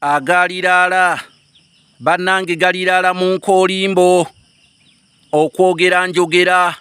agaaliraala bannange galiraala mu nkoolimbo okwogera njogera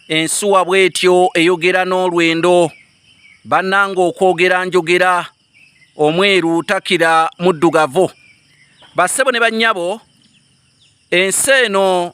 ensuwa bw'etyo eyogera n'olwendo bannange okwogera njogera omweru takira muddugavu bassebo ne bannyabo ensi eno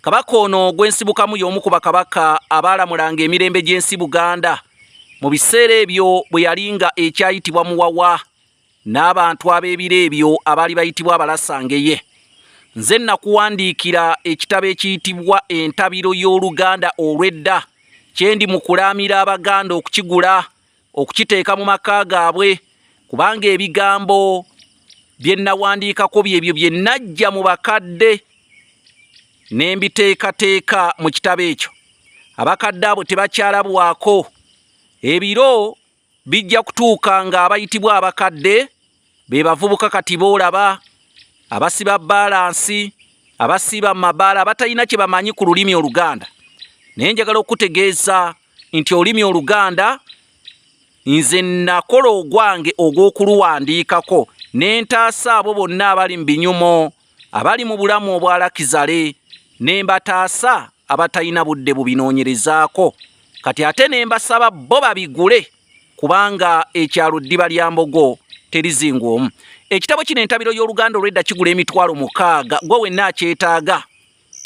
Kabaka ono ogw'ensibukamu y'omu ku bakabaka abaalamulanga emirembe gy'ensi Buganda mu biseera ebyo bwe yali nga ekyayitibwa Muwawa n'abantu ab'ebiro ebyo abaali bayitibwa Abalasangeye. Nze nakuwandiikira ekitabo ekiyitibwa Entabiro y'Oluganda olw'edda kye ndi mu kulaamira Abaganda okukigula. okukiteeka mu maka gaabwe kubanga ebigambo bye nnawandiikako byebyo bye najja mu bakadde ne mbiteekateeka mu kitabo ekyo abakadde abo tebakyalabwako ebiro bijja kutuuka ng'abayitibwa abakadde be bavubuka kati boolaba abasiba baalansi abasiiba mu mabaala abatalina kye bamanyi ku lulimi oluganda naye njagala okukutegeeza nti olulimi oluganda nze nakola ogwange ogw'okuluwandiikako ne ntaasa abo bonna abali mu binyumo abali mu bulamu obwalakizale ne mbataasa abatalina budde bubinoonyerezaako kati ate ne mbasaba bo babigule kubanga ekyalo ddiba lya mbogo terizingwa omu ekitabo kino entabiro y'oluganda olwedda kigula emitwalo mukaaga gwe wenna akyetaaga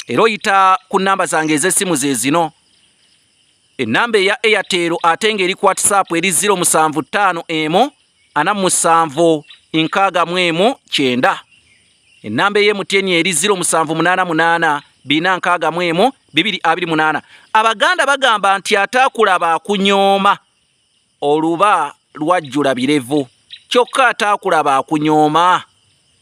era oyita ku namba zange ez'essimu ze zino ennamba eya eyatero ate ng'eri ku whatsapp eri 075 emu ana musanvu nkaaga mu emu kyenda ennamba eye mutyeni eri 0788461228 abaganda bagamba nti ataakulaba akunyooma oluba lwajjula birevu kyokka ataakulaba akunyooma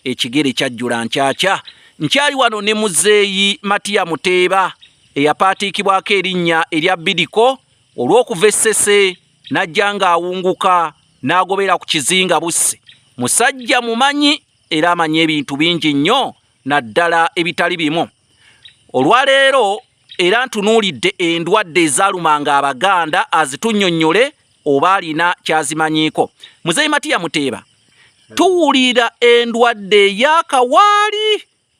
ekigere kyajjula nkyakya nkyali wano ne muzeeyi matiya muteeba eyapaatiikibwako erinnya erya bidiko olw'okuva essese n'ajja ng'awunguka n'agobera ku kizinga busse musajja mumanyi era amanyi ebintu bingi nnyo naddala ebitali bimu olwaleero era ntunuulidde endwadde ezaalumanga abaganda azitunnyonnyole oba alina kyazimanyiiko muzeeyi matiya muteeba tuwulira endwadde eyakawaali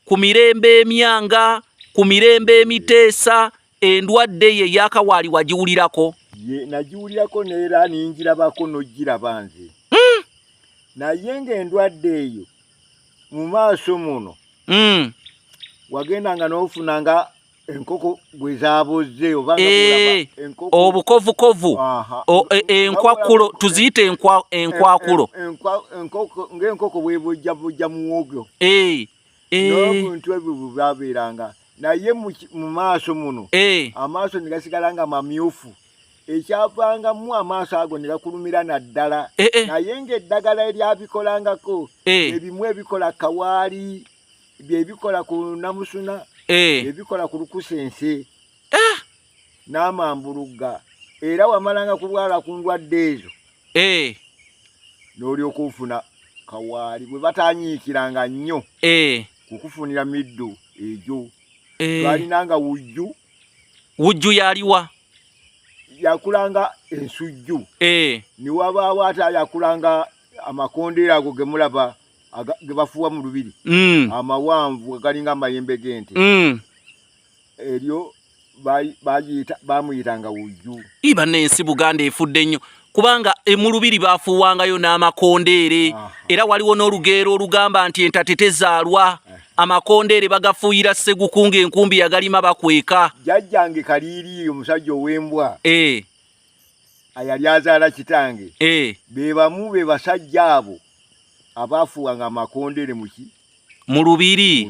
ku mirembe emyanga ku mirembe emiteesa endwadde ye yakawaali wagiwulirako nagiwulirako neera ninjirabako nojiraba nze hmm. naye nga endwadde eyo mu maaso muno hmm. wagenda nga nofuna nga enkoko gwe zaabozze oba eh, obukovukovu e, enkwakulo tuziyita enkwakulo ng'enkoko bwebujjabujja muwogyo eh, eh. n'obuntu ebyo bwe bwabeeranga naye mu maaso muno amaaso ne gasigala nga mamyufu ekyavangamu amaaso ago ne gakulumira naddala naye ng'eddagala eryabikolangako ebimu ebikola kawaali byebikola ku namusuna eh. byebikola ku lukusense eh. n'amambulugga era wamalanga kulwala ku ndwadde ezo eh. n'olyoka ofuna kawaali bwe batanyiikiranga nnyo kukufunira middu egyo twalinanga wujju wujju yaliwa yakulanga ensujju niwabaawo ate yakulanga amakondeera ago gemulaba ge bafuuwa mu lubiri mm. amawanvu galinga amayembe g'ente mm. eryo bamuyitanga wujju iba n'ensi buganda efudde nnyo kubanga e, mu lubiri bafuuwangayo n'amakondeere era waliwo n'olugeero olugamba nti entate tezaalwa eh. amakondeere bagafuuyira segukunga enkumbi yagalima bakweka jajjange kaliiri omusajja ow'embwa eh. ayali azaala kitange eh. be bamu be basajja abo abaafuwanga amakondeere muki mu lubiri